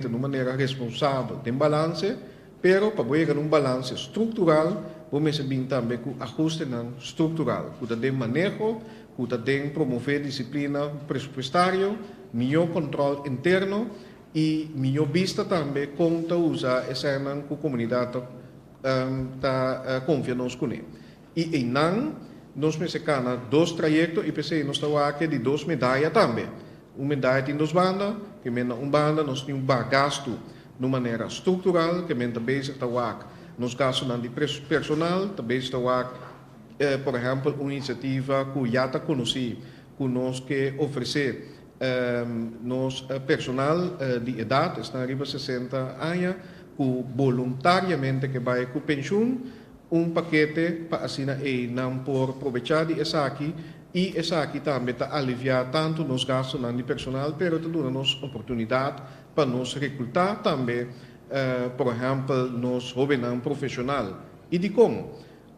den un manera responsabel, den balanse, pero pa bo yega na un balanse struktural bo mester bin tambe ku ahustenan struktural ku ta den maneho, ku ta den promové disiplina presupuestario, mihó kòntròl interno i mihó bista tambe kon ta usa esènan ku komunidat ta konfia nos kuné. I einan nos mester cana dos trayecto y p'esey nos ta wak di dos medaya tambe. Un medaya tin dos banda, cu men na un banda nos tin un baha gastu na un manera structural, cu men ta bezig ta wak nos gastunan di personal, ta bezig ta wak por ehempel un iniciativa cu ya ta conoci cu nos ke ofrece nos personal di edad, esnan riba sesenta aña, cu voluntariamente ke bay cu pensioen, Un pakete pa asina ei nan por probechá di esaki i esaki tambe ta aliviá tantu nos gastunan di personal pero ta duna nos oportunidat pa nos rekrutá tambe por ehèmpel nos hóbennan profeshonal. I dikon?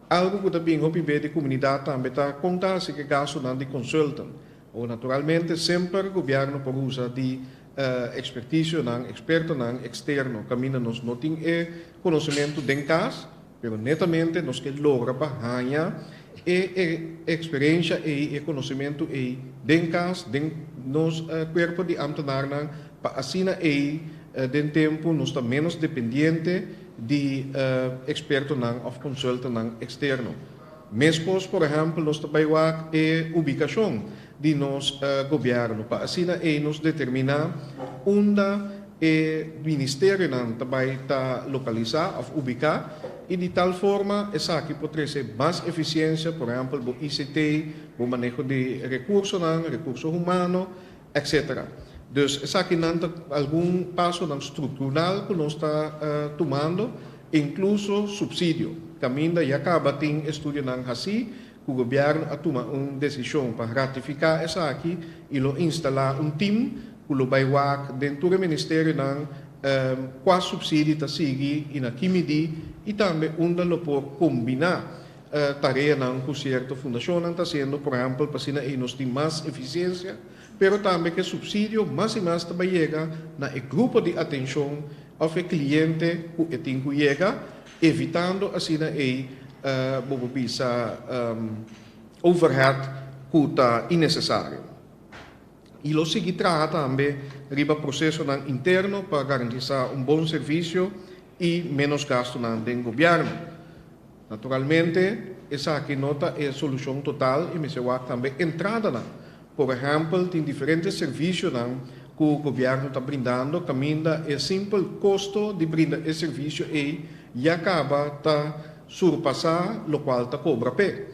Algu ku ta bin hopi be di komunidat tambe ta kon ta hasi ku e gastunan di konsultan. Bo naturalmente semper gobièrnu por usa di e ekspertisionan, ekspertonan, eksterno kaminda nos no tin e konosementu den kas, pero netamente nos ke logra pa haña e e eksperensha ei, e konosementu ei den kas, den nos kuerpo di ámtenarnan pa asina ei den tempu nos ta ménos dependiente di e ekspertonan òf konsultannan eksterno. Meskos, por ehèmpel, nos ta bai wak e ubikashon di nos gobièrnu pa asina ei nos determiná unda e ministerionan ta bai ta lokalisá òf ubiká i di tal forma esaki por trese mas efisiensia, por ehèmpel bo ICT, bo maneho di rekursonan, rekurso humano, Etc. Dus esakinan ta algun pasonan structural cu nos ta tumando, incluso subsidio. Caminda ya caba tin estudionan haci cu Gobierno a tuma un decision pa ratifica esaki y lo instala un team cu lo bay wak den tur e ministerionan cua subsidi ta sigui y na ki midi y tambe unda lo por combina tareanan ku sierto fundashonnan ta hasiendo, por ehèmpel pa asina ei nos tin mas efisiensia, pero tambe ku e supsidio mas i mas ta bai yega na e grupo di atenshon òf e kliente ku e tin ku yega, evitando asina ei bo por bisa overhead ku ta inesesario. I lo sigui traha tambe riba prosesonan interno pa garantisá un bon servisio i ménos gastunan den gobièrnu. Naturalmente, esaki no ta e solucion total y mester wak tambe entradanan. Por ehempel, tin diferente servicionan cu gobierno ta brindando caminda e simpel costo di brinda e servicio ey ya caba ta surpasa locual ta cobra p'e.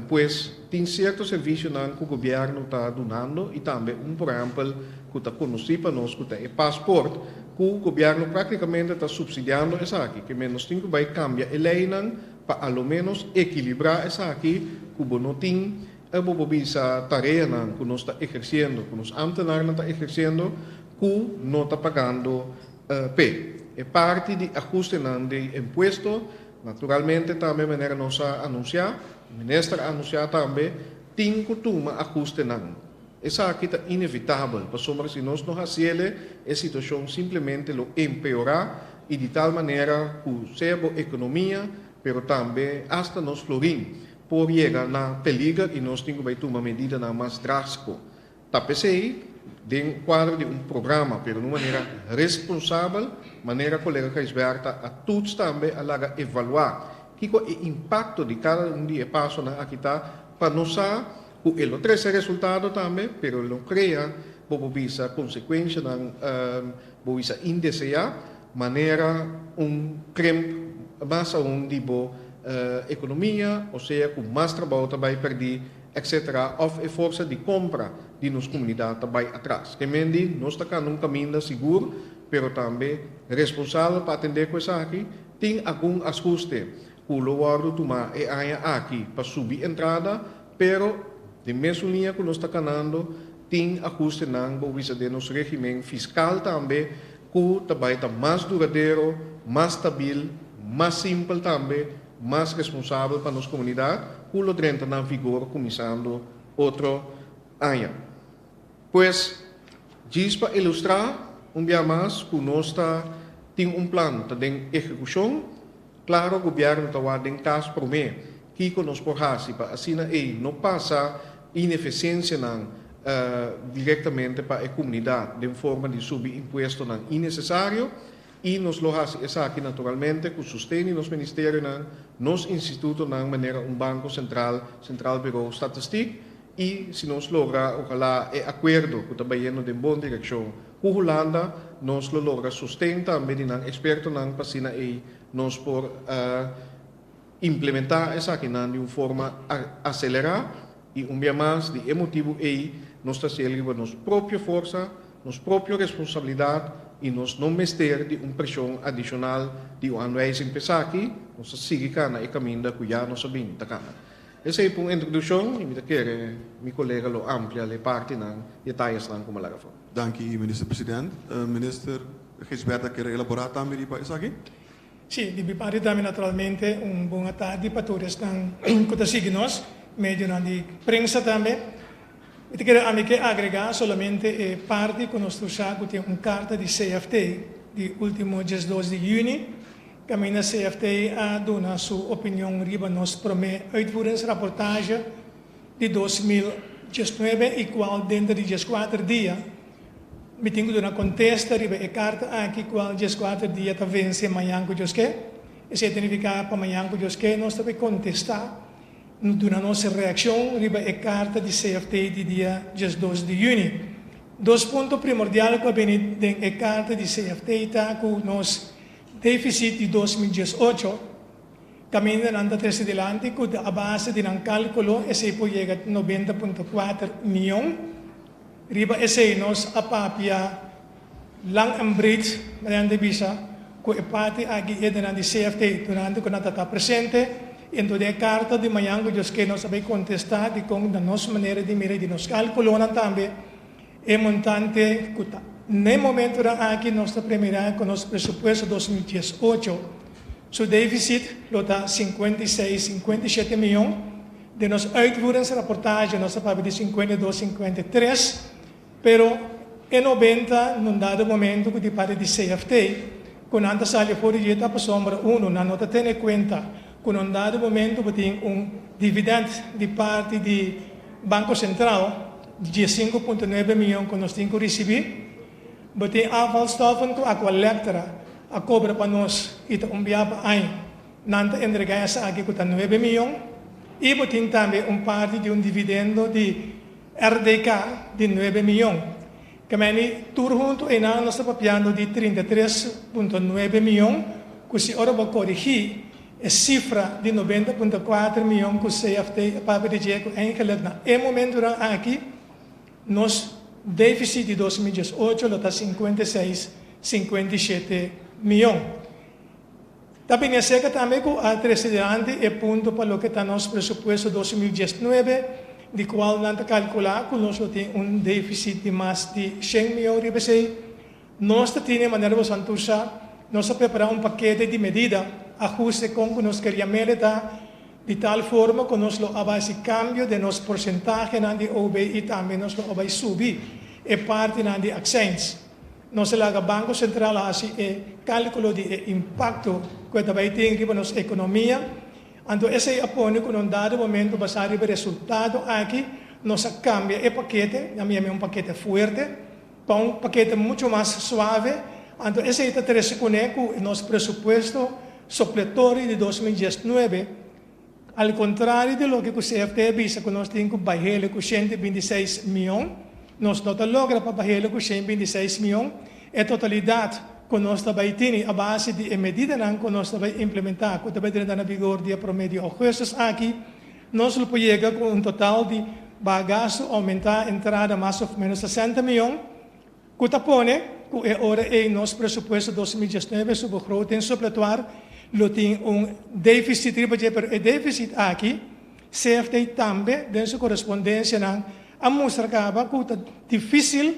Pues, tin cierto servicionan cu gobierno ta dunando y tambe un por ehempel cu ta conoci pa nos cu ta e passport cu gobierno practicamente ta subsidiando esaki. P'e nos tin cu bay cambia e leynan pa a lo menos equilibra esaki cu bo no tin e bobo bisa tareanan cu nos ta eherciendo, cu nos ambtenarnan ta eherciendo cu no ta pagando p'e. E parti di ahustenan di impuesto Naturalmente tambe manera nos a anunsiá, e minister a anunsiá tambe, tin ku tuma ahustenan. Esaki ta inevitabel, pasobra si nos no hasi el'e, e situashon simplemente lo empeorá i di tal manera ku sea bo ekonomia, pero tambe asta nos florin por yega na peliger i nos tin ku bai tuma medidanan mas drástiko. Ta p'esei den kuadro di un programa, pero n'un manera responsabel, manera Kolega Gijsberth ta a tuts tambe a laga evaluá kiko e impakto di kada un di e pasonan aki ta pa nos sa ku e lo trese resultado tambe, pero e lo krea, bo por bisa konsekuenshanan, bo bisa indeseá, manera un krimp mas aún di bo ekonomia, osea ku mas trabou ta bai pèrdí. etc. Of e forsa di compra di nos comunidad ta bay atras. Ke men di nos ta canda un caminda sigur pero tambe responsabel pa atende cu esaki. Tin algun ashuste cu lo wordo tuma e aña aki pa subi entrada pero den mesun liña cu nos ta canando tin ahustenan bo bisa den nos regimen fiscal tambe. cu ta bay ta mas duradero, mas stabil, mas simpel tambe, mas responsabel pa nos comunidad, cu lo drenta na vigor cuminsando otro aña. Pues, djis pa ilustra un bia mas cu nos ta tin un plan ta den ehecucion, claro Gobierno ta wak den cas prome. Kiko nos por hasi pa asina ei no pasa ineficiensianan directamente pa e comunidad den forma di subi impuestonan innecesario y nos lo hasi esaki naturalmente cu sosten di nos Ministerionan, nos institutonan manera un Banco Central, Centraal Bureau Statistiek y si nos logra ojala e acuerdo cu ta bayendo den bon direccion cu Hulanda nos lo logra sosten tambe di nan expertonan pa asina ei nos por Implementá esakinan di un forma aselerá i un bia mas di e motibu ei nos ta hasiel riba nos propio forsa, nos propio responsabilidat i nos no mester di un preshon adishonal di un anwijzing p'esaki, nos ta sigui kana e kaminda ku ya nos a bini ta kana. Esei pa un introdukshon i mi ta kere mi kolega lo amplia lei partinan i e tayasnan ku mi a laga for. Danki Minister President. Minister Gisbert a kere elaborá tambe riba esaki? Sí, di bipari tambe naturalmente un bona tardi pa tur esnan ku ta sigui nos medionan di prensa tambe. Mi ta kere ami ke agregá solamente e parti ku nos tusá ku tin un karta di CFT di último diesdos di yüni kaminda CFT a duna su opinion riba nos promé uitvoeringsraportaje di dos mil diesnuebe i kual denter di dieskuater dia Mi tin ku duna kontesta riba e karta aki kual dies kuater dia ta vense mañan ku dioske. Esei ta nifiká pa mañan ku dioske nos ta por kontestá, duna nos reakshon riba e karta di CFT di dia dies dos di yüni. Dos punto primordial ku a bini den e karta di CFT ta ku nos defisit di dos mil dies ocho kaminda nan ta trese dilanti ku ta a base di nan kálkulo esei por yega nobenta punto kuater mion. Riba esei nos a papia lang en breed mediante bisa cu e parti aki edenan di CFT durante cu nan ta ta presente y en todo e carta di mañan cu Dios ke nos a bay contesta dicon na nos manera di mira y di nos calculonan tambe e montante cu ta na e momentonan aki nos ta premira cu nos presupuesto dos mil dies ocho su deficit lo ta cincuenta y seis, cincuenta y shete miyon. Den nos uitvoeringsrapportage nos ta papia di sinkuenta i dos, sinkuenta i tres, pero e nobenta na un dado momento ku di parti di CFT ku nan ta sali for di dieta aposombra unu nan no ta tene kuenta ku na un dado momento bo tin un dividend di parti di Banko Sentraal di dies sinku punto nuebe mion ku nos tin ku risibi. Bo tin afvalstoffen ku Aqualectra a kobra pa nos i ta umbia pa aña. Nan ta entregá esaki ku ta nuebe miyon i bo tin tambe un parti di un dividendo di RDK di nuebe miyon. Kemeni tur huntu einan nos ta papiando di trinta i tres punto nuebe miyon ku si ora bo korigí e sifra di nobenta punto kuater miyon ku CFT a papia di dje ku Engelert na e momentunan aki, nos défisit di dos mil diesocho lo ta sinkuenta i seis, sinkuenta i shete, miyon. Ta bin e seka tambe ku a trese dilanti e punto pa loke ta nos presupuesto dos mil diesnuebe, di kual nan ta kalkulá ku nos lo tin un défisit di mas di shen mion riba esei. Nos ta tine, manera boso a ntur sa, nos a prepará un pakete di medida, ahuste kon ku nos keria mele ta, di tal forma ku nos lo a basi kambio den nos porsentahenan di OB i tambe nos lo a bai subi e partinan di aksèns. Nos a laga Banko Sentral hasi e kálkulo di e impakto ku e ta bai tin riba nos ekonomia. Anto esei a pone ku na un dado momento basá riba e resultado aki nos a kambia e pakete, na mi ami un pakete fuerte, pa un pakete muchu mas suave. Anto esei ta trese kuné ku nos presupuesto sopletori di dos mil diesnuebe, Al contrario di loke cu CFT a bisa cu nos tin cu bay helu cu shente y bintiseis mion, nos no ta logra pa bay helu cu shen y bintiseis mion e totalidad cu nos ta bay tini a base di e medidanan cu nos ta bay implementa cu ta bay drenta na bigor dia prome di Augustus aki, nos lo por yega cu un total di ba gasto aumenta entrada mas of menos sesenta mion Ku ta pone ku e ora ei nos presupuesto dos mil diesnuebe su begroot den supletuar lo tin un defisit riba dje pero e defisit aki CFT tambe den su korespondensianan a mustra kaba ku ta difisil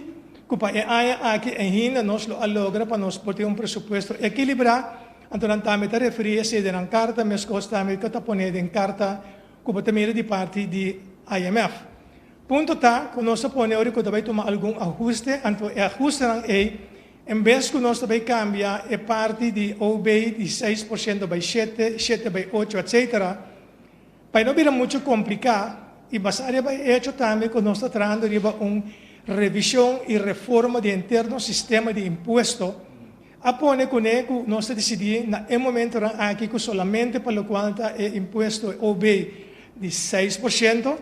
ku pa e aña aki ainda nos lo a logra pa nos por tin un presupuesto ekilibrá anto nan tambe ta referí esei den nan karta meskos tambe ku ta pone den karta ku bo ta mira di parti di IMF. Punto ta cu nos ta pone ora cu ta bay tuma algun ahuste, anto e ahustenan ey, en bes cu nos ta bay cambia e parti di OB di seis por ciento bay shete, shete bay ocho, etc. Bay no bira mucho complica y basa riba e hecho tambe cu nos ta trahando riba un revision y reforma di henter nos sistema di impuesto, a pone cu ne cu nos ta dicidi na e momentonan aki cu solamente pa locual ta e impuesto OB di seis por ciento,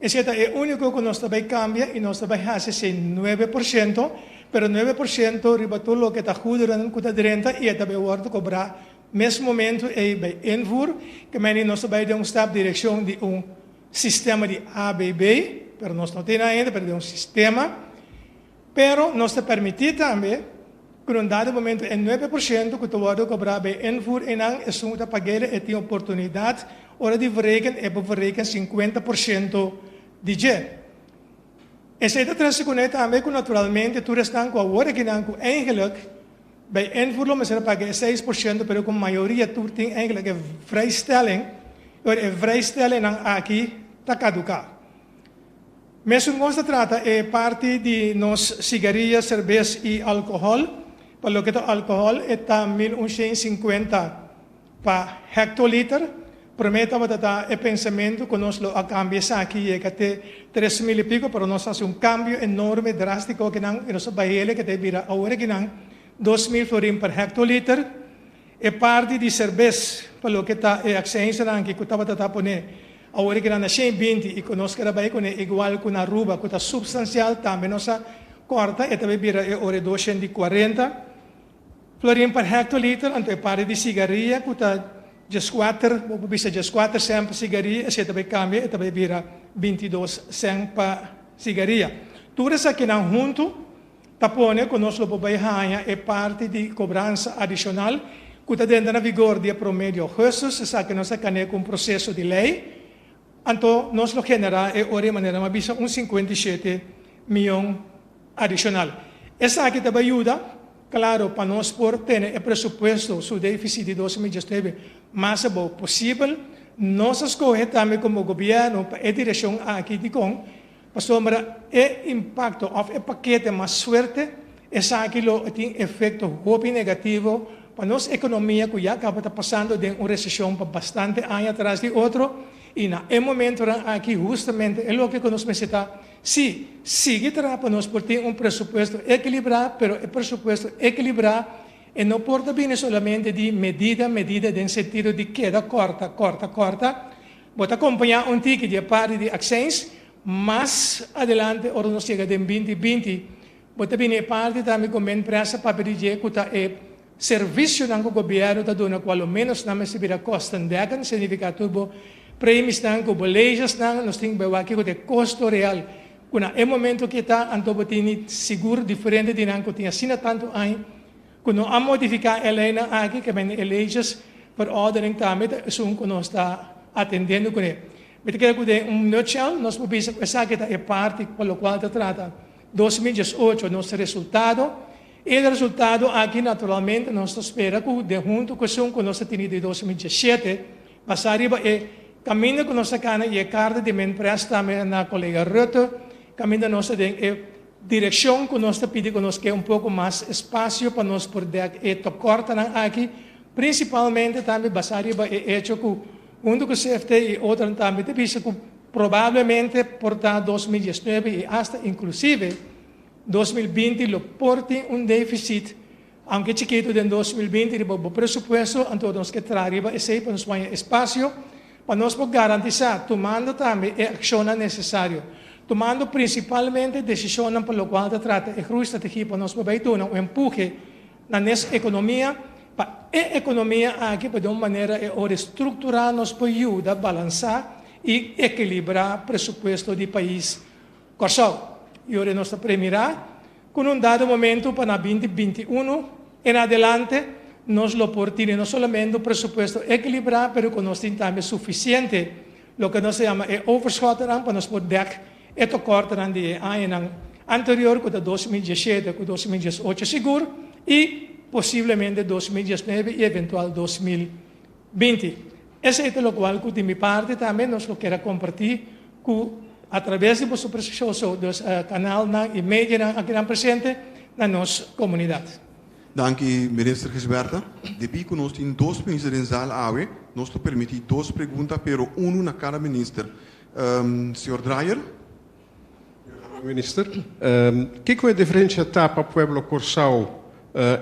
Esei ta e úniko ku nos ta bai kambia i nos ta bai hasi sin nuebe por siento, pero nuebe por siento riba tur loke ta guderen ku ta drenta i e ta bai wòrdu kobrá mes momentu ei bai invoer. Kemendy nos ta bai den un stap direkshon di un sistema di ABB, pero nos no tin ahinda, pero den un sistema. Pero nos ta permití tambe ku na un dado momentu e nuebe por siento ku ta wòrdu kobrá bij invoer einan esun ta pag'ey e tin oportunidat ora di verreken e por verreken sinkuenta por siento di dje. Esei ta trese kuné tambe ku naturalmente tur esnan ku a wòrdu akinan ku eingelek bij invoer lo mester a paga e seis por siento pero ku mayoria tur tin eingelek e vrijstelling i ora e vrijstellingnan aki ta kaduká. Mesun nos ta trata e parti di nos sigaria, serbes i alkohòl. Pa loke ta alkohòl e ta mil un shen sinkuenta pa hektoliter. Promé tabata ta e pensamentu ku nos lo a kambia esaki yega te tres mil i piko pero nos a hasi un kambio enorme, drástiko akinan i nos a bai hele kete bira awor akinan dos mil florin per hektoliter. E parti di serbes pa loke ta e aksensianan aki ku tabata ta poné Awor ke nan a shei binti i ku nos keda bai kuné igual ku na ruba ku ta supstansial tambe nos a kòrta e ta bai bira e ora e dos shen di kuarenta florin per hektoliter anto e pari di sigaria ku ta djeskwater bo por bisa djeskwater sèn pa sigaria esei ta bai kambia e ta bai bira binti dos sèn pa sigaria tur esaki nan huntu ta pone ku nos lo por bai haña e parti di kobransa adishonal ku ta denter na vigor di e promé di ougùstus, esaki nos ta kan'é ku un proseso di lei, anto nos lo generá e ora i manera m'a bisa un sinkuenta i shete mion adishonal. Esaki ta bai yuda, klaru, pa nos por tene e presupuesto su défisit di dos mil diesnuebe mas abou posibel. Nos a skohe tambe komo gobièrnu pa e direkshon aki. Dikon? Pasobra e impakto òf e pakete mas suerte, esaki lo a tin efekto hopi negativo pa nos ekonomia ku ya tabata pasando den un reseshon pa bastante aña tras di otro i na e momentunan aki hustamente e loke ku nos mester ta si sigui traha pa nos por tin un presupuesto ekilibrá pero e presupuesto ekilibrá e no por ta bini solamente di medida medida den sentido di keda kòrta kòrta kòrta Bo ta kompañá un tiki di e parti di aksins mas adelante ora nos yega den binti binti. Bo ta bini e parti tambe ku men presa papia di dje ku ta e servisionan ku gobièrnu ta duna ku alomenos nan mester bira kostendekkend, signifiká tur bo premisnan ku bo leyesnan. Nos tin ku bai wak kiko ta e kosto real ku na e momentu kia ta, anto bo tin di sigur diferente di nan ku tin asina tantu aña. Cu no a modifica e leynan aki caminda e leyes por orde den cambio ta esun cu nos ta atendendo cu e. Mi ta crea cu den un nutshell nos por bisa cu esaki ta e parti pa locual ta trata dos mil diesocho, nos resultado. E resultado aki naturalmente nos ta spera cu den hunto cu esun cu nos a tene di dos mil diesete, basa riba e caminda cu nos a cana y e carta di Minprest tambe na colega Rutte caminda nos ta den e Direccion cu nos ta pidi cu nos ke un poco mas espacio pa nos por dek e tocortanan aki, principalmente tambe basa riba e hecho cu hunto cu CFT y otronan tambe ta bisa cu probablemente por ta dos mil diesnuebe y hasta inclusive dos mil binti lo por tin un deficit Aunke chikitu den dos mil binti riba bo presupuesto, anto nos ke traha riba esei pa nos waña espasio pa nos por garantisá tumando tambe e akshonnan nesesario, tumando prinsipalmente desishonnan pa lokual ta trata e grui strategia pa nos por bai duna un empuje na nes ekonomia pa e ekonomia aki pa den un manera e ora estrukturá nos por yuda balansá i ekilibrá presupuesto di pais. Kòrsou. I ora nos ta premirá ku un dado momentu pa na binti binti unu en adelante nos lo por tene no solamente un presupuesto ekilibrá pero ku nos tin tambe sufisiente loke nos ta yama e overschotteran pa nos por dèk e tokortenan di e añanan anterior ku ta dos mil dies shete ku dos mil dies ocho sigur i posiblemente dos mil dies nuebe i eventual dos mil Binti. Esei ta lokual ku di mi parti tambe nos lo kier a kompartí ku atraves di boso preshesioso dos kanalnan i medianan aki nan presente na nos komunidat. Danki Minister Gisbertha. Debí ku nos tin dos Minister den zal awe, nos lo permití dos pregunta pero unu na kada Minister. Señor Dreyer. Minister, kiko e diferensha ta pa pueblo Kòrsou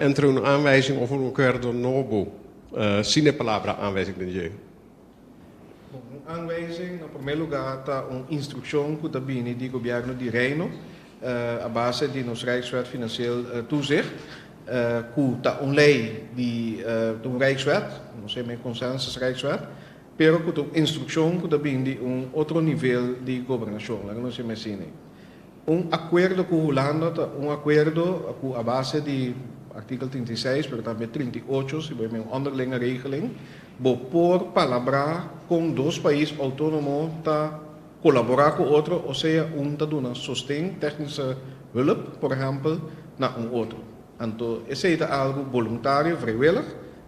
entre un aanwijzing òf un akuerdo nobo sin e palabra aanwijzing den dje? Bon, un aanwijzing na promé lugá ta un instrukshon ku ta bini di Gobièrnu di Reino a base di nos Rijkswet Finansieel Toezicht, ku ta un lei di, ta un Rijkswet, nos a bai konsensus Rijkswet, Pero ku ta un instrukshon ku ta bini di un otro nivel di gobernashon, laga nos yama asini. Un akuerdo ku Hulanda ta un akuerdo ku a base di artikel trinta i seis, pero tambe trinta i ocho, si bo yama un onderlinge regeling, bo por palabrá kon dos pais outónomo ta kolaborá ku otro o sea un ta duna sosten, tèknische hulp, por ehèmpel, na un otro. Anto esei ta algu boluntario, vrijwillig.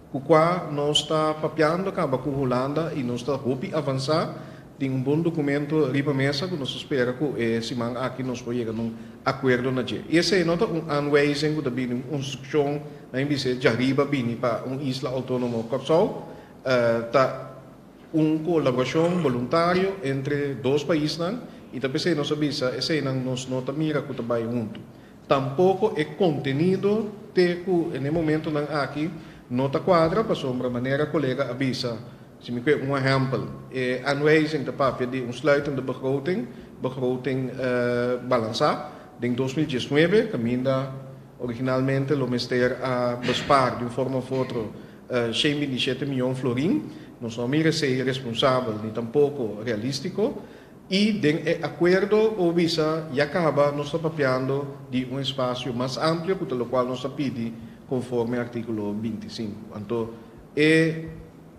Ku kua nos ta papiando kaba ku Hulanda i nos ta hopi avansá. Tin un bon dukumentu riba mesa ku nos ta spera ku e siman aki nos por yega na un akuerdo na dje. I esei no ta un aanwijzing ku ta bini, un unstrukshon, na mi bis'é dja riba bini pa un isla outónomo Kòrsou. Ta un kolaborashon boluntario entre dos paisnan i ta p'esei nos a bisa eseinan nos no ta mira ku ta bai huntu. Tampoko e kontenido te ku en e momentunan aki no ta kuadra pasobra manera kolega a bisa, si mi kue un ehèmpel, e aanwijzing ta papia di un sluitende begroting, begroting balansá, den dos mil diesnuebe kaminda originalmente lo mester a bespaar di un forma òf otro shen bintisiete mion florin. Nos no a mira esei responsabel ni tampoko realístiko. I den e akuerdo o wisa ya kaba nos ta papiando di un espasio mas amplio ku ta lokual nos ta pidi konforme artíkulo binti sinku. Anto e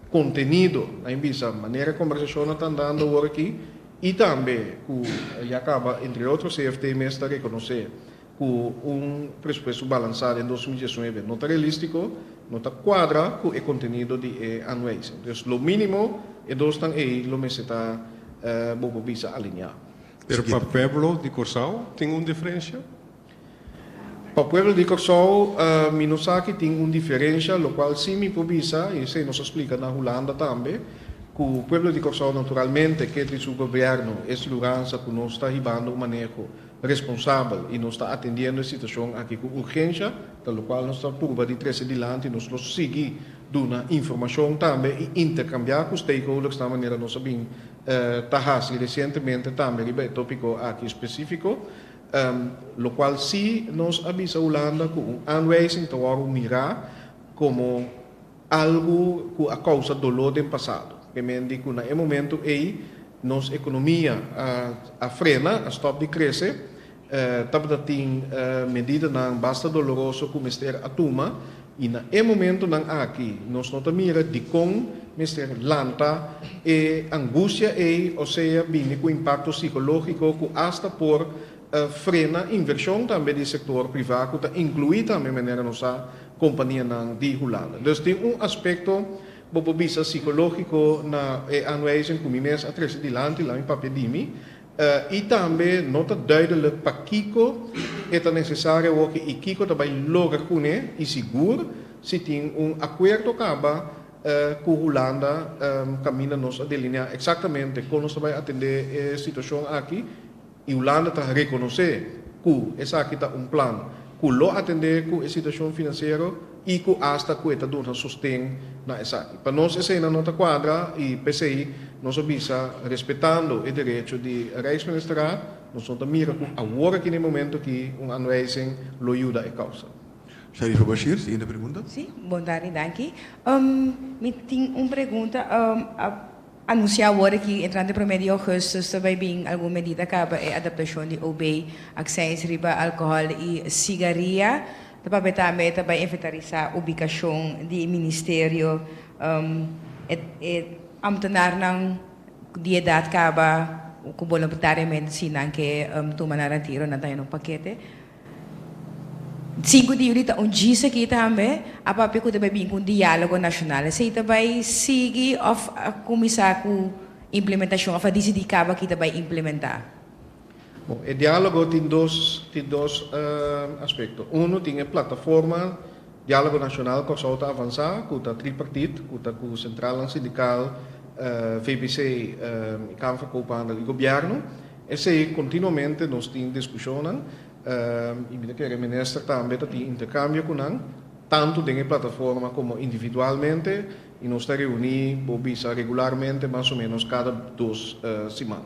kontenido a bin bisa manera e kombersashonnan ta andando awor aki i tambe ku ya kaba entre otro CFT mes ta rekonosé cu un presupuesto balansa den dos mil diesnuebe no ta realistico, no ta cuadra cu e contenido di e anueis. Entonces, lo minimo e dosnan ey lo mester ta bobo bisa alinea. Pero pa pueblo di Corsou tin un diferencia? Pa pueblo di Corsou mi no sa ki tin un diferencia, locual si mi por bisa, y esey nos a splica na Hulanda tambe, cu pueblo di Corsou naturalmente kier di su gobierno es luransa cu nos ta hibando un maneho, responsabel y nos ta atendiendo e situacion aki cu urgencia, ta locual nos ta purba di trece dilanti y nos lo sigui duna informacion tambe y intercambia cu stakeholdersnan manera nos a bin ta haci recientemente tambe riba e topico aki specifico, locual si nos a bisa Hulanda cu un aanwijzing ta wor mira como. Algu cu a causa dolor den pasado. P'emendi cu na e momento ey nos economia a frena, a stop di crece, tabata tin medidanan basta doloroso cu mester a tuma y na e momentonan aki nos no ta mira dicon mester lanta e angustia ey o sea bini cu impacto psicologico cu asta por frena inversion tambe di sector priva cu ta inclui tambe manera nos sa companianan di Hulanda. Dus tin un aspecto bo por bisa psicologico na e aanwijzing cu mi mes a trece dilanti la mi papia di mi y tambe no ta duidelijk pakico e ta necesario awor y kico ta bay logra cune y si gur si tin un acuerdo caba cu Hulanda caminda nos a delinea exactamente con nos ta bay atende e situacion aki. I Hulanda ta rekonosé ku esaki ta un plan ku lo atendé ku e situashon finansiero i ku asta ku e ta duna sosten na esaki. Pa nos esena no ta kuadra i p'esei nos a bisa respetando e derecho di Rijksministerraad, nos no ta mira ku awor aki na e momento aki un aanwijzing lo yuda e kousa. Sharifa Bashir, siguiente pregunta. Sí, bon tardi, danki. Mi tin un pregunta. Anunsiá awor aki, entrante e promé di ougustus ta bai bin algun medida kaba e adaptashon di OB, aksèns riba alkohòl i sigaria, ta papia tambe ta bai inventarisá ubikashon di e ministerio, e amtenarnan di edat kaba ku bolontariamente si nan ke tuma nan retiro nan ta henda un pakete. Sinku di Yuli ta un djis aki tambe, a papia ku ta bai bin ku un diálogo nashonal. Esei ta bai sigui òf a kuminsá ku implementashon òf a disidí kaba ki ta bai implementá? Bon, e diálogo tin dos tin dos aspekto. Unu tin e plataforma diálogo nashonal Kòrsou ta avansá ku ta tripartit, ku ta ku sentralnan sindikal, VBC, Kamfer Koophandel i gobièrnu. Esei continuamente nos tin discushonnan y mi ta kere Minister tambe ta tin intercambio cu nan tanto den e plataforma como individualmente y nos ta reuni bo bisa regularmente mas o menos cada dos siman.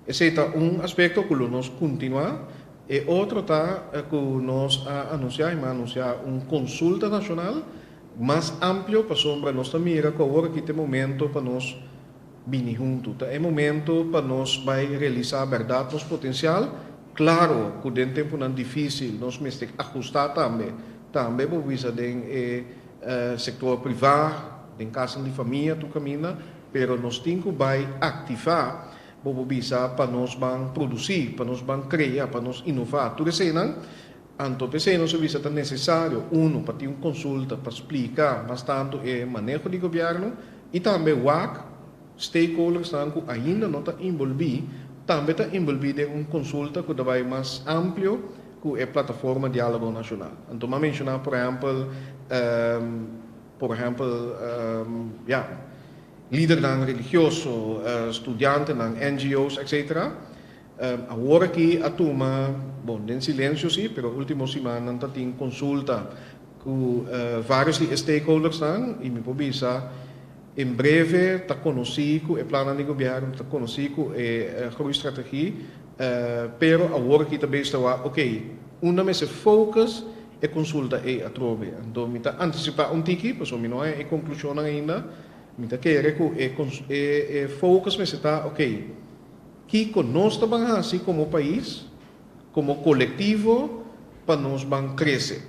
Esei ta un aspecto cu lo nos continua. E otro ta cu nos a anuncia y mi a anuncia un consulta nacional mas amplio pasobra nos ta mira cu awor aki ta e momento pa nos bini huntu. Ta e momento pa nos bai realisá bèrdat nos potensial. Klaro ku den tempunan difísil nos mester ajustá tambe, tambe bo bisa den e sektor privá, den kasanan di famia tur kaminda, pero nos tin ku bai aktivá, bobo bisa, pa nos ban produsí, pa nos ban krea, pa nos inová tur eseinan. Anto p'esei nos a bisa ta nesesario, uno, pa tin un konsulta pa splika mas tantu e maneho di gobièrnu i tambe wak stakeholdersnan ku ainda no ta enbolbí tambe ta enbolbí den un konsulta ku ta bai mas amplio ku e plataforma Diálogo Nacional. Anto mi a menshoná por ehèmpel por ehèmpel ya lidernan religioso, studiantenan, NGO's etc. Awor aki a tuma, bon den silencio si, pero ultimo simannan ta tin consulta cu varios di e stakeholdersnan y mi por bisa en breve ta conoci cu e plannan di gobierno, ta conoci cu e groeistrate-gie, pero awor aki ta bes ta wak ok, unda mester focus e consulta ey atrobe. Anto mi ta anticipa un tiki, pasobra mi no a haya e conclusionnan ainda, mi ta kere cu e focus mester ta ok, Kiko nos ta ban hasi komo pais, komo kolektivo pa nos ban krese?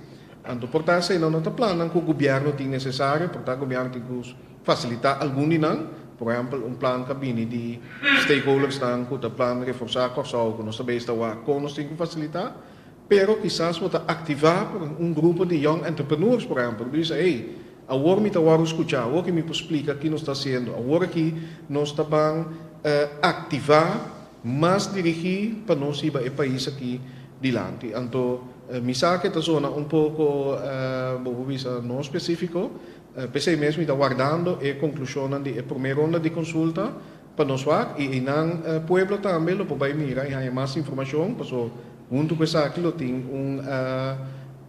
Anto por ta asina no ta plannan ku gobièrnu tin nesesario, por ta gobièrnu tin ku fasilitá algun di nan, por ehèmpel un plan ka bini di stakeholdersnan ku ta plan reforsá Kòrsou ku nos ta bei esta wak kon nos tin ku fasilitá. Pero kisas bo ta aktivá por un grupo di Young Entrepreneurs, por ehèmpel, ku ta bisa, Hey, awor mi ta wòrdu skuchá, awor ke mi por splika ki nos ta hasiendo, awor aki nos ta ban aktivá mas dirigí pa nos hiba e pais aki dilanti. Anto mi sa ke ta sona un poko, bo por bisa, no spesífiko, p'esei mes mi ta wardando e konklushonnan di e promé ronda di konsulta Pa nos wak y eynan pueblo tambe lo por bay mira y haya mas informacion paso hunto cu esaki lo tin un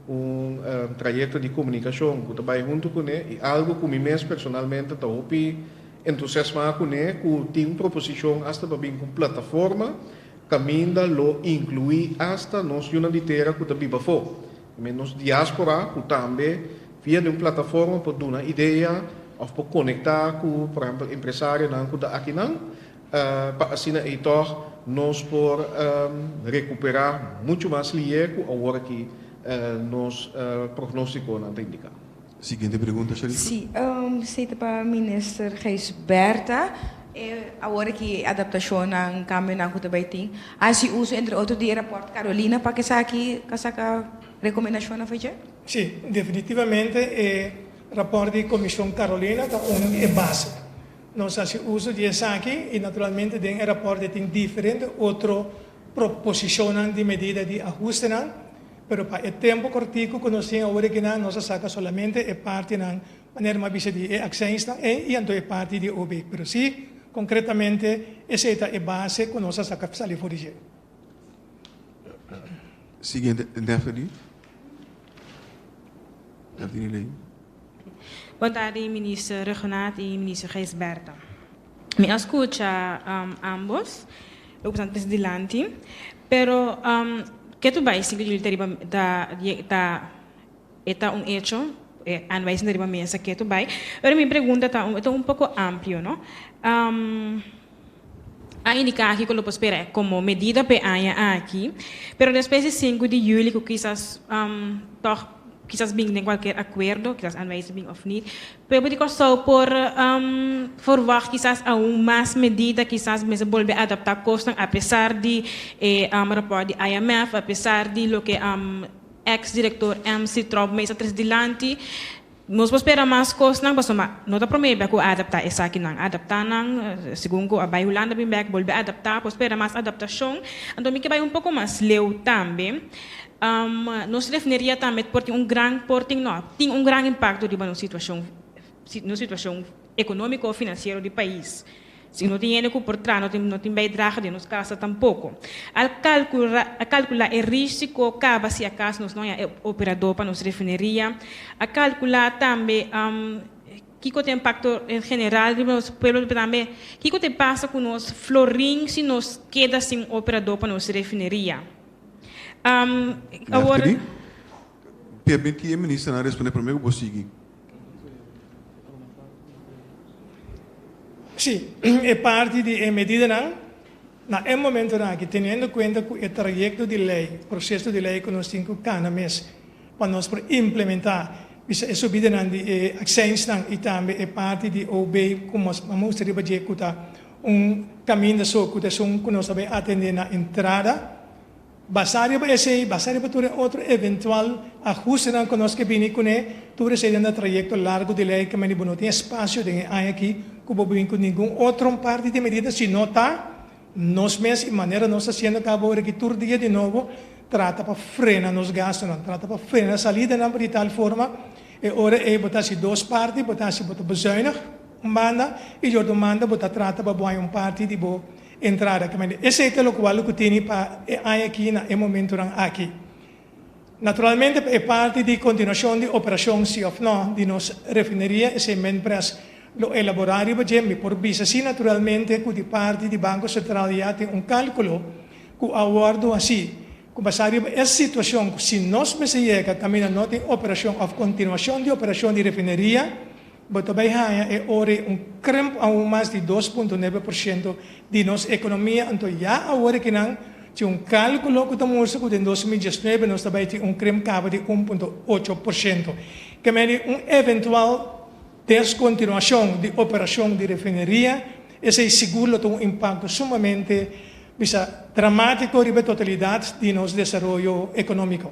un trayecto di comunicacion cu ta bay hunto cune y algo cu mi mes personalmente ta hopi entusiasma cune cu tin un proposicion hasta pa bin cu un plataforma caminda lo inclui hasta nos yunan di tera cu ta biba afo. Mi nos diáspora ku tambe via di un plataforma por duna idea òf por konektá ku por ehèmpel empresarionan ku ta akinan pa asina ei tòg nos por rekuperá muchu mas lihé ku awor aki nos prognóstikonan ta indiká. Siguiente pregunta Sharifa. Sí, esei ta pa Minister Gysbertha. E awor aki e adaptacionnan, cambionan cu ta bay tin, a haci uso entre otro di e rapport Carolina pa kesaki ta saca recomendacionnan pa dje? Sí, definitivamente e rapport di Comision Carolina ta un di e base. Nos haci uso di esaki y naturalmente den e rapport tin diferente otro proposicionnan di medida di ahustenan. pero pa e tempo cortico cu nos tin awor ekinan nos a saca solamente e partinan manera m'a bisa di e accionsnan ei y anto e parti di OB. Pero si, concretamente esey ta e base cu nos a saca sali for di dje. Siguiente, Daphne. Daphne Ley. Bon tardi Minister Regonat y Minister Gijsbertha. Mi a scucha ambos lo cu sta antes dilanti, pero ke tu bai sin cu julio ta riba ta e ta un hecho, a bai sin ta riba mesa ke tu bai, pero mi pregunta ta ta un poco amplio no, a indica aki cu lo por spera e como medida p'e aña aki, pero despues di sinku di julio cu kisas tog kisas bin den cualkier acuerdo, kisas a bai sin bin of nit. People di Kòrsou por forwagt kisas aun mas medida, kisas mester bolbe adaptá kosnan apesar di e rapòrt di IMF, apesar di loke èks direktor Mc Troubema esta tres dilanti. Nos por spera mas kosnan pasobra ma no ta promé bèk ku a adaptá esakinan. Adaptá nan, segun ku a bai Hulanda bin bèk, bolbe adaptá, por spera mas adaptashon. Anto mi ke bai un poko mas leu tambe. Nos refneria tambe por tin un gran por tin no tin un gran impakto riba nos situashon nos situashon ekonómiko òf finansiero di pais. Si no tin hende ku por traha no tin no tin baidraha den nos kasa tampoko. Al kalkura a kalkula e rísiko kaba si akas nos no haña e operadó pa nos refneria? A kalkula tambe kiko ta impakto en general riba nos pueblo pero tambe kiko ta e pasa ku nos florin si nos keda sin operadó pa nos refneria? Um, awor. Permiti e ministernan responde prome ku bo sigui. Si, e parti di e medidanan, na e momentonan aki, teniendo kuenta ku e trayekto di lei, proseso di lei ku nos tin ku kana mes pa nos por implementá, biba e subidanan di e akseinsnan i tambe e parti di OB ku nos a mustra riba dje ku ta Un kaminda so ku ta esun ku nos a bin atendé na entrada. Basá riba esei, basá riba tur e otro eventual ahustenan ku nos ke bini kuné, tur esei ta na trayekto largu di lei kaminda bo no tin espasio den e aña akí ku bo bin ku ningun otro parti di medida sino ta nos mes i manera nos ta hasiendo akaba ora akí tur dia di nobo trata pa frena nos gastunan, trata pa frena salidanan pa di tal forma e ora ei bo ta hasi dos parti, bo ta hasi bo ta bezuinig. Un banda, e Jordon manda bo ta trata pa bo haña un parti di bo entrada. Kemende, esei ta lokual lo ku tene pa e haña aki na e momentunan aki. Naturalmente pa e parti di kontinuashon di operashon si òf nò di nos refineria, esei Minpres lo elaborá riba dje. Mi por bisa si naturalmente ku di parti di Banko Sentral ya tin un kálkulo ku a wòrdu hasi ku basá riba e situashon ku si nos mester yega kaminda no tin operashon òf kontinuashon di operashon di refineria, Bo ta bay haña e ore un krimp aun mas di dos punto nebe por shento di nos ekonomia. Anto ya awor aki nan tin un kalkulo ku ta mustra ku den dos mil diesnuebe nos ta bay tin un krimp kaba di un punto ocho por shento keme di un eventual deskontinuashon di operashon di refineria. Esei sigur lo ta un impakto sumamente bisa dramatiko riba e totalidat di nos desaroyo ekonomiko.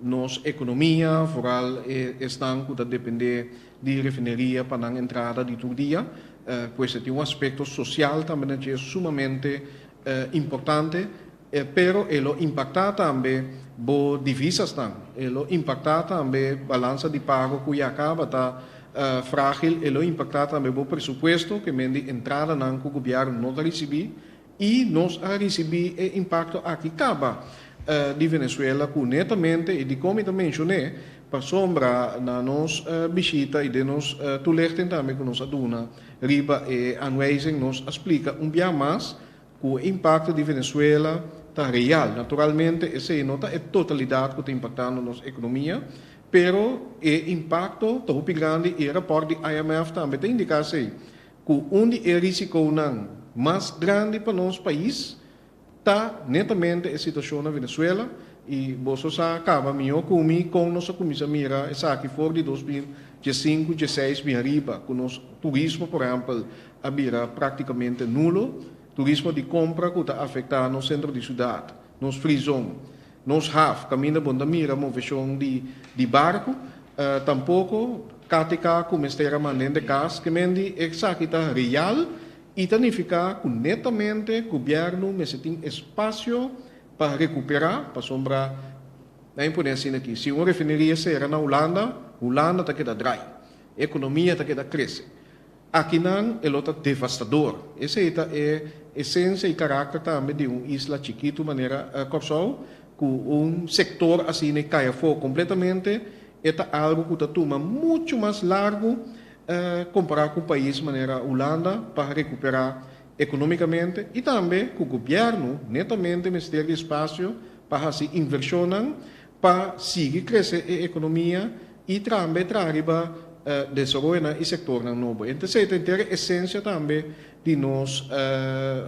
Nos ekonomia, foral e esnan ku ta dependé di refineria pa nan entrada di tur dia, ku esta tin un aspekto sosial tambe na dje, sumamente importante, pero e lo impaktá tambe bo divisasnan, e lo impaktá tambe balansa di pago ku ya kaba ta frágil, e lo impaktá tambe bo presupuesto, ke men di entradanan ku gobièrnu no ta risibí, I nos a ricibi e impacto aki caba di Venezuela cu netamente y dicom i ta mencion'e pasobra na nos bishita y den nos toelichting tambe cu nos a duna riba e aanwijzing nos a splica un biaha mas cu e impacto di Venezuela ta real. Naturalmente esey no ta e totalidad cu ta impactando nos economia pero e impacto ta hopi grandi y e rapport di IMF tambe ta indica esey cu un di e risiconan mas grandi pa nos pais ta netamente e situacion na Venezuela y boso sa caba mijo cu mi con nos a cuminsa mira esaki for di dos mil diesincu, dieseis bien riba cu nos turismo por ehempel a bira practicamente nulo, turismo di compra cu ta afecta nos centro di ciudad. Nos prizon, nos haf, kaminda bon ta mira moveshon di di barku, tampoko KTK ku mester a manda hende kas. Kemendi esaki ta real i ta nifiká ku netamente gobièrnu mester tin espasio pa rekuperá, pasobra nan e pone asina aki, si un refineria sera na Hulanda, Hulanda ta keda drai, ekonomia ta keda krese. Akinan e lo ta devastador. Esei ta e esensia i karakter tambe di un isla chikitu manera Kòrsou, ku un sektor asina i kai afó kompletamente, e ta algu ku ta tuma muchu mas largu, kompará ku pais manera Hulanda, pa rekuperá ekonómikamente i tambe ku gobièrnu netamente mester di spasio pa hasi invershonnan. pa sigui krese e ekonomia i tambe traha riba desaroyonan i sektornan nobo. Enta esei ta henter e esensia tambe di nos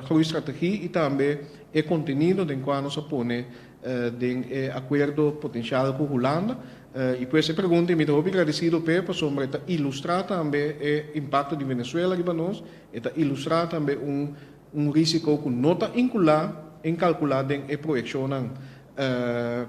groeistrategie i tambe e kontenido den kua nos a pone den e akuerdo potensial ku Hulanda. I pues e pregunta i mi ta hopi gradesido p'e pasobra e ta ilustra tambe e impakto di Venezuela riba nos, e ta ilustra tambe un. Un risiko ku no ta inkulá en kalkulá den e proyekshonnan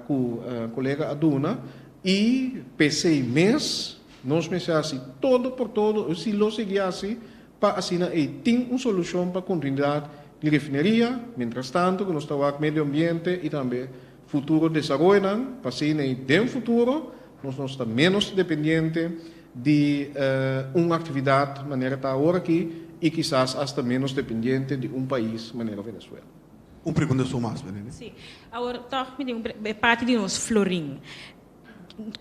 ku kolega a duna. I p'e sei mes nos mester hasi todo por todo si lo sigui hasi pa asina ei tin un solushon pa kontinuidat di refineria, mientras tanto ku nos ta wak medio ambiente i tambe Futuro desaroyonan, pasinei den futuro nos nos ta menos dependiente di un actividad manera ta awor aki y kisas hasta menos dependiente di un pais manera Venezuela. Un pregunta su mas, Benene. Sí. Awor tog mi tin un pregunta, e parti di nos florin.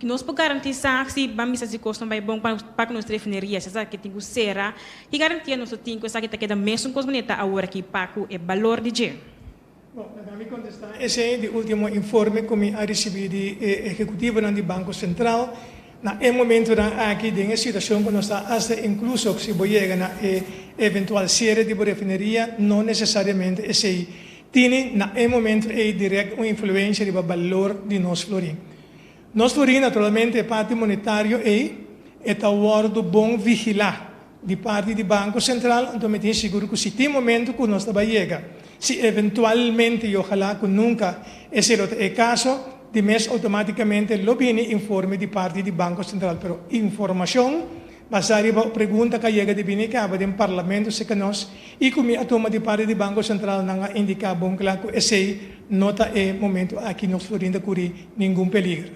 Nos por garantisa si ban bisa si cosnan bai bon pa cu nos ta refineria si esaki tin cu cera, ki garantia nos lo tin cu esaki ta keda mesun cos manera ta awor aki pa cu e balor di dje. Bo ta dami contesta esey di ultimo informe cu mi a ricibi di e ehecutivonan di Banco Central. Na e momentonan aki, den e situacion cu nos ta hasta, incluso si bo yega na e eventual cierre di bo refineria, no necesariamente esey tini na e momento ey direct un influencia riba balor di nos florin. Nos lo di naturalmente e parti monetario ei e ta wòrdu bon vigilá di parti di Banko Sentral, anto mi tin sigur ku si tin momentu ku nos ta bai yega, si eventualmente i ohalá ku nunka esei lo ta e kaso, di mes outomátikamente lo bini informe di parti di Banko Sentral, pero informashon. Basá riba e pregunta k'a yega di bini e kaba den Parlamento si ka nos i ku mi a tuma di parti di Banko Sentral nan a indiká bon kla ku esei no ta e momentu aki nos florin ta kurí ningun peliger.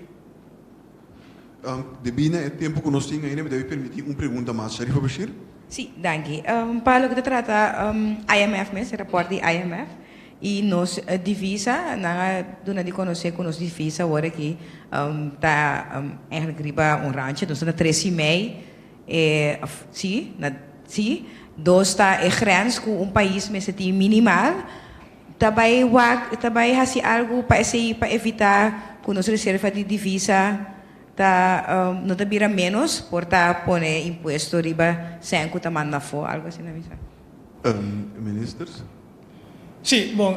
Di bini e tempu ku nos tin ainda mi debe permití un pregunta mas. Sharifa Bashir. Sí, danki. Pa loke ta trata IMF mes, e rapòrt di IMF, Y nos divisa, nan a duna di conoce cu nos divisa awor aki ta eigenlijk riba un rancho, nos ta na tres y mei, e, si, na, si, dos ta e grens cu un pais mester tin minimal, ta bay wak, ta bay haci algo pa esey, pa evita cu nos reserva di divisa ta, no ta bira menos por ta pone impuesto riba cen cu ta manda afo, algo asina bisa. Minister. Sí, bon,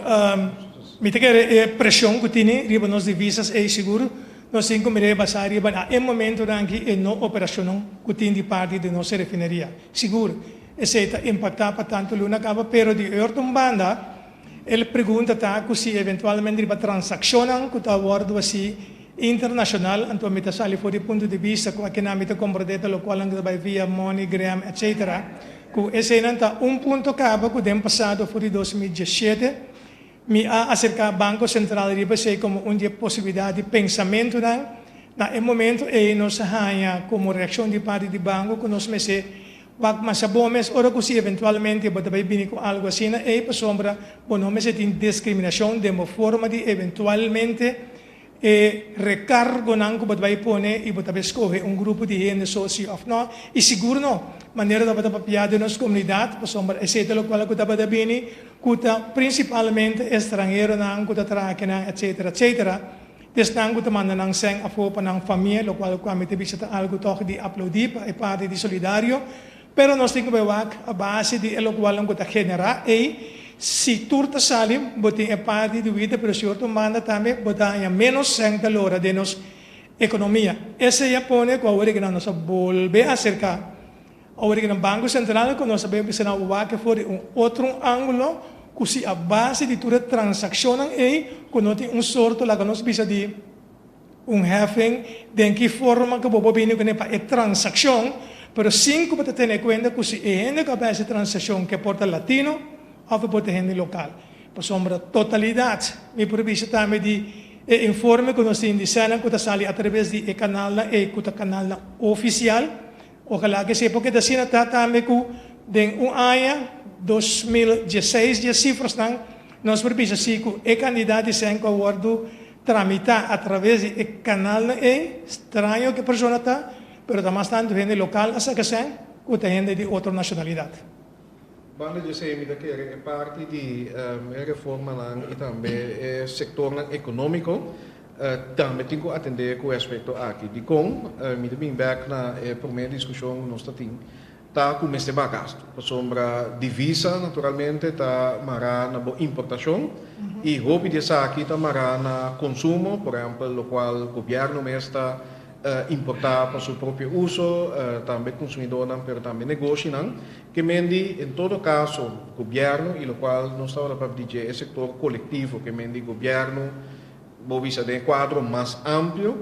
mi ta kere e presion ku tini riba nos divisas ei sigur. Nos tin ku mira e basá riba na e momentunan aki e no operacionnan ku tin di parti di nos e refineria. Sigur, esei ta impaktá pa tantu luna kaba, pero di e otro un banda e pregunta ta ku si eventualmente riba transakshonnan ku ta wòrdu hasí internashonal, anto mi ta sali for di punto di bista ku akinan mi ta komprondé ta lokual nan ku ta bai via MoneyGram, etcetera. Ku eseinan ta un punto kaba ku den pasado for di dos mil diesshete mi a aserká Banko Sentral riba esei komo un di e posibilidat di pensamentunan. Na e momentu ei nos a haña komo reakshon di parti di Banko ku nos mester wak masa bon mes ora ku si eventualmente bo ta bai bini ku algu asina ei pasobra bo no mester tin diskriminashon den bo forma di eventualmente E recargonan cu bo ta bay pone y bo ta bay scoge un grupo di hende so si of no y sigur no manera tabata papia den nos comunidad pasobra esey ta locual cu tabata bini cu ta principalmente estranheronan cu ta traha aki nan etcetera etcetera di esnan cu ta manda nan seng afo pa nan famia locual cu ami ta bisa ta algo toch di aplaudi pa e parti di solidario Pero nos tin ku bai wak a base di e lokualnan ku ta generá ei. Si tur ta sali bo tin e parti di wita, pero si otro manda tambe bo ta haña ménos sènta lo ora den nos ekonomia. Esei a pone ku awor e kinan nos a bolbe aserká, awor e kinan Banko Sentral ku nos a bai bisa nan wak for di un otro ángulo ku si a base di tur e transakshonnan ei ku no tin un sorto laga nos bisa di, Un heffing, den ki forma ku bo por bini kuné pa e transakshon, pero sin ku bo ta tene kuenta ku si e hende ku a bes e transakshon ke por ta latino òf e por ta hende lokal. Pasobra totalidat, mi por bisa tambe di e informe ku nos tin di Senat ku ta sali atraves di e kanalnan ei ku ta kanalnan ofisial, okalá ke sepa ku ta asina ta tambe ku den un aña, dos mil dieseis, dje sifrasnan nos por bisa si ku e kandidat di Sèn ku a wòrdu tramitá atraves di e kanalnan ei, straño ku e persona ta, pero ta mas tantu hende lokal a saka esei ku ta hende di otro nashonalidat. Banda dj'esei mi ta kere e parti di e reformanan i tambe e sektornan ekonómiko tambe tin ku atendé ku e aspekto aki. Dikon? Mi ta bin bèk na e promé diskushon ku nos ta tin. ta cu mester baha gastu, pasobra divisa naturalmente ta mará na bo importacion y hopi di esaki ta mará na consumo, por ehempel locual gobierno mes ta importa pa su propio uso, tambe consumidornan pero tambe negoshinan. Kemendi en todo caso gobierno y locual nos tabata papia di dje e sector colectivo, kemendi gobierno, Bo bisa den e kuadro mas amplio,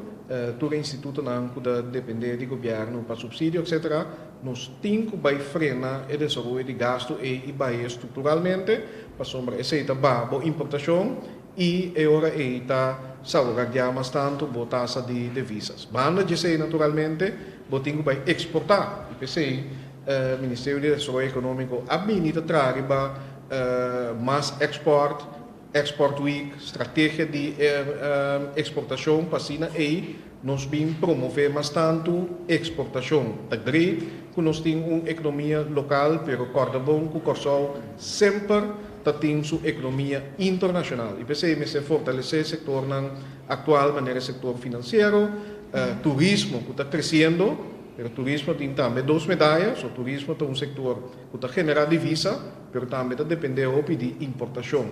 tur e institutonan ku ta dependé di gobièrnu pa supsidio, etcétera, nos tin ku bai frena e desaroyo di gastu ei i baie strukturalmente, pasobra esei ta ba bo importashon i e ora ei ta sauragiá mas tantu bo tasa di devisas. Banda djesei, naturalmente, bo tin ku bai eksportá i p'esei Ministerio di Desaroyo Ekonómiko a bini ta traha riba mas èkspòrt, Export Week, strategia di e exportacion pa asina ey nos bin promove mas tantu exportacion ta grei cu nos tin un economia local pero corda bon cu Corsou semper ta tin su economia internacional y p'esey mester fortalece sectornan actual manera e sector financiero, turismo cu ta creciendo pero turismo tin tambe dos medaya so turismo ta un sector cu ta genera divisa. Pero tambe ta depende hopi di importashon.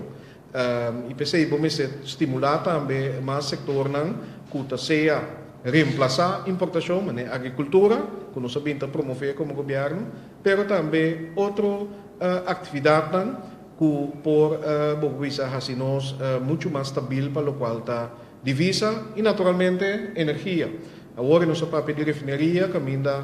I p'esei bo mester stimulá tambe mas sektornan ku ta sea remplasá importashon, manera agrikultura, ku nos a bin ta promové komo gobièrnu, pero tambe otro aktividatnan ku por bo bisa hasi nos muchu mas stabil pa lokual ta Divisa y naturalmente energia. Awor e nos a papia di refineria caminda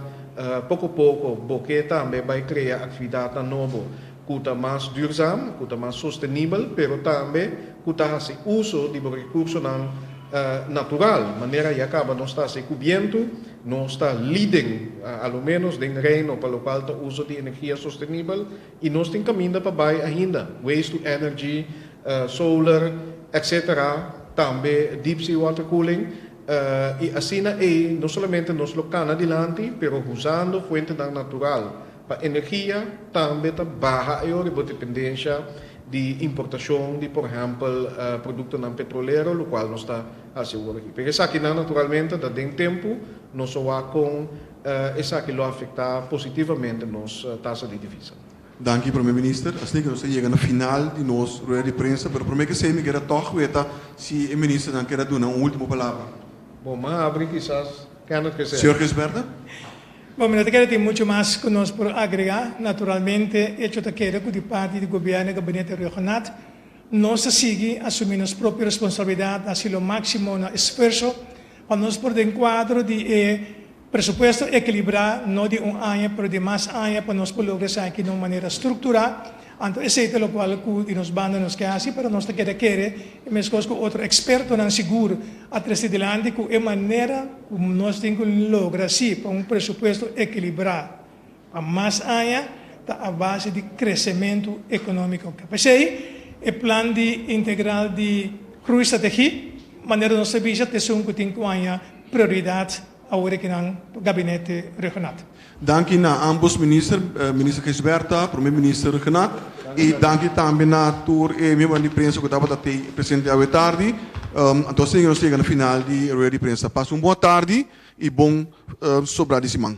poco poco bo ke tambe bay crea actividadnan nobo cu ta mas duurzam, cu ta mas sostenibel pero tambe cu ta haci uso di bo recursonan natural. Manera ya caba nos ta haci cu bientu, nos ta liden alo menos den Reino pa locual ta uso di energia sostenibel Y nos tin caminda pa bay ainda. Waste to energy, solar, etc. Tambe deep sea water cooling. Y asina ey no solamente nos lo cana dilanti, pero huzando fuentenan natural pa energia tambe ta baha ey ora bo dependencia di importacion di por ehempel productonan petrolero, locual nos ta haci ora aki. Pero esakinan naturalmente ta den tempo nos a wak con Esaki lo afecta positivamente nos tasa di divisa. Danki Prome Minister. Asina ke nos ta yega na final di nos rueda di prensa, pero prome ke esei mi keda tog weta si e ministernan keda duna un ultimo palabra. Bo m'a habri kisas Kenneth Gisbertha. Señor Gisbertha. Bo mi no ta keda tin mucho mas ku nos por agrega. Naturalmente e echo ta keda ku di parti di Gobierno e Gabinete Regionat nos ta sigui asumi nos propio responsabilidad, haci lo maximo na esfuerso Pa nos por den kuadro di e presupuesto ekilibrá, no di un aña pero di mas aña pa nos por logra esaki na un manera strukturá, anto esei ta lokual ku di nos banda nos ke hasi pero nos ta keda kere e meskos ku otro ekspertonan sigur a trese dilanti ku e manera ku nos tin ku logra hasi pa un presupuesto ekilibrá. Pa mas aña ta a base di kresementu ekonómiko. P'esei e Plan di Integral di Groeistrategie, manera nos ta bisa, ta esun ku tin ku aña prioridat awor ki nan Gabinete Regional. Danki na ámbos minister, Minister Gisbertha, Prome Minister Knack, i danki tambe na tur e miembronan di prensa ku tabata tei presente awe tardi. Anto asina ke nos yega na final di e rueda di prensa. Pasa un bon tardi i bon sobra di siman.